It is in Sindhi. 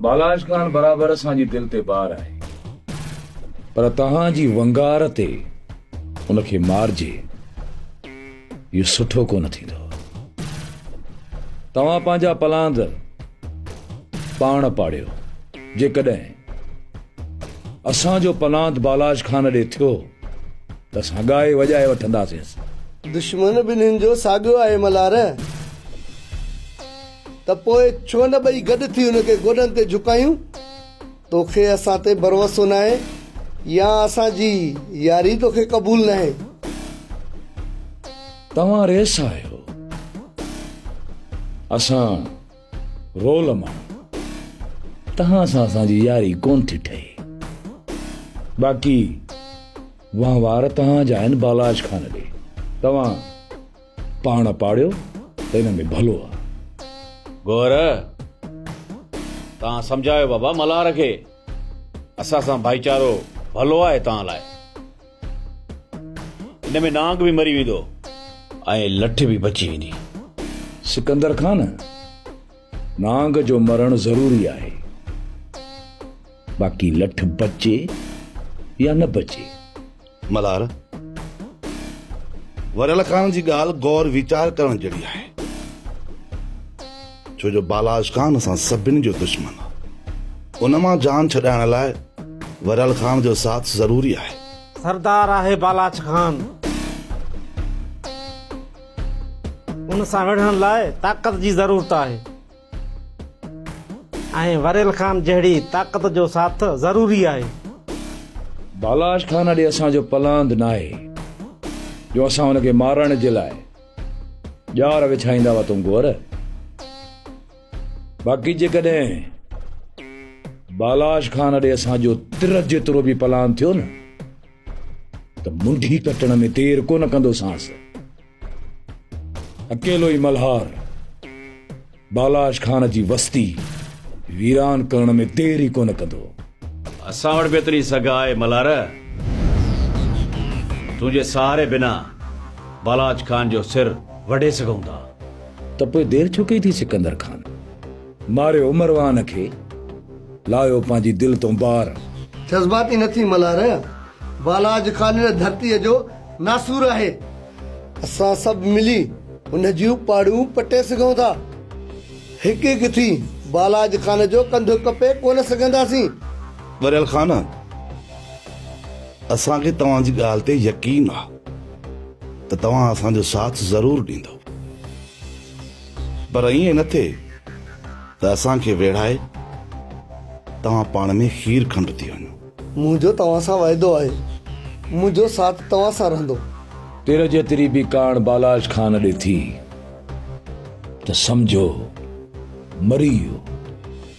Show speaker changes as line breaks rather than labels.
بالاچ خان برابر اسان جي دل تي بار آهي پر توهان جي ونگار تي ان کي مارجي اهو سٺو ڪونه ٿيندو توهان پنهنجا پلاند پاڻ پاڙيو جيڪڏهن اسان جو پلاند بالاچ خان ڏي ٿيو ته اسان ڳائي وڄائي وٺنداسين دشمن ٻنهين
جو ساڳيو آهي ملهار. ته پوء ڇو نه ٻئي گڏ ٿي هن کي گوڏن تي جهڪايون؟ توکي اسان تي ڀروسو ناهي يا اسان جي ياري توکي قبول ناهي؟
توهان ريس آهيو، اسان رول ماڻهو، توهان سان اسان جي ياري ڪونه ٿي ٺهي. باقي وهنوار توهان جا آهن بالاچ خان ڏي، توهان. پاڻ پاڙيو ته ان ۾ ڀلو آ. گوهر،
توهان سمجهايو بابا ملهار کي. اسان سان ڀائيچارو ڀلو آهي توهان لاء. ان ۾ نانگ به مري ويندو ۽ لٺ به بچي ويندي. سڪندر
خان، نانگ جو مرڻ ضروري آهي. باقي لٺ بچي يا نه بچي. ملهار،
وريل خان جي ڳالهه غور ويچار ڪرڻ جهڙي آهي، ڇو جو بالاش خان اسان سڀني جو دشمن آ، ان مان جان ڇڏائڻ لاء وريل خان جو ساٿ ضروري آهي. سردار آهي
بالاش خان، ان سان وڙهڻ لاء طاقت جي ضرورت آهي. ۽ وريل خان جهڙي طاقت جو ساٿ ضروري آهي.
بالاش خان اڏي اسان جو پلاند ناهي جو اسان هن کي مارڻ جي لاء ڄار وڇائيندا هئا تون گور باقي جيڪڏهن بالاش خان اڏي اسان جو تر جيترو به پلاند ٿيو نه ته منڍي ڪٽڻ ۾ دير ڪونه ڪندوسانس. اڪيلو ئي ملهار بالاش خان جي وستي ويران ڪرڻ ۾ دير ئي ڪونه ڪندو. اسان وٽ
به ايتري سگهه آهي ملهار. تنهنجي سهاري بنا بالاش خان جو سر وڍي سگهون ٿا. ته پوء دير
ڇو ڪئي ٿي سڪندر خان؟ ماريو مروان کي، لايو پنهنجي دل تون بار. جذباتي نه
ٿي ملهار، بالاچ خانيل ڌرتيء جو ناسور آهي. اسان سڀ ملي ان جون پاڙون پٽي سگهون ٿا. هڪ هڪ ٿي بالاچ خان جو ڪنڌ ڪپي ڪونه سگهنداسين. ٻريل خان،
اسان کي توهان جي ڳالهه تي يقين آهي ته توهان اسان جو ساٿ ضرور ڏيندؤ. پر ائين نه ٿئي ته اسان کي ويڙهائي توهان پاڻ ۾ کير کنڊ ٿي وڃو. منهنجو توهان سان وعدو
آهي. منهنجو ساٿ توهان سان رهندو. تر جيتري
به ڪاڻ بالاش خان ڏي ٿي ته سمجهو مري ويو.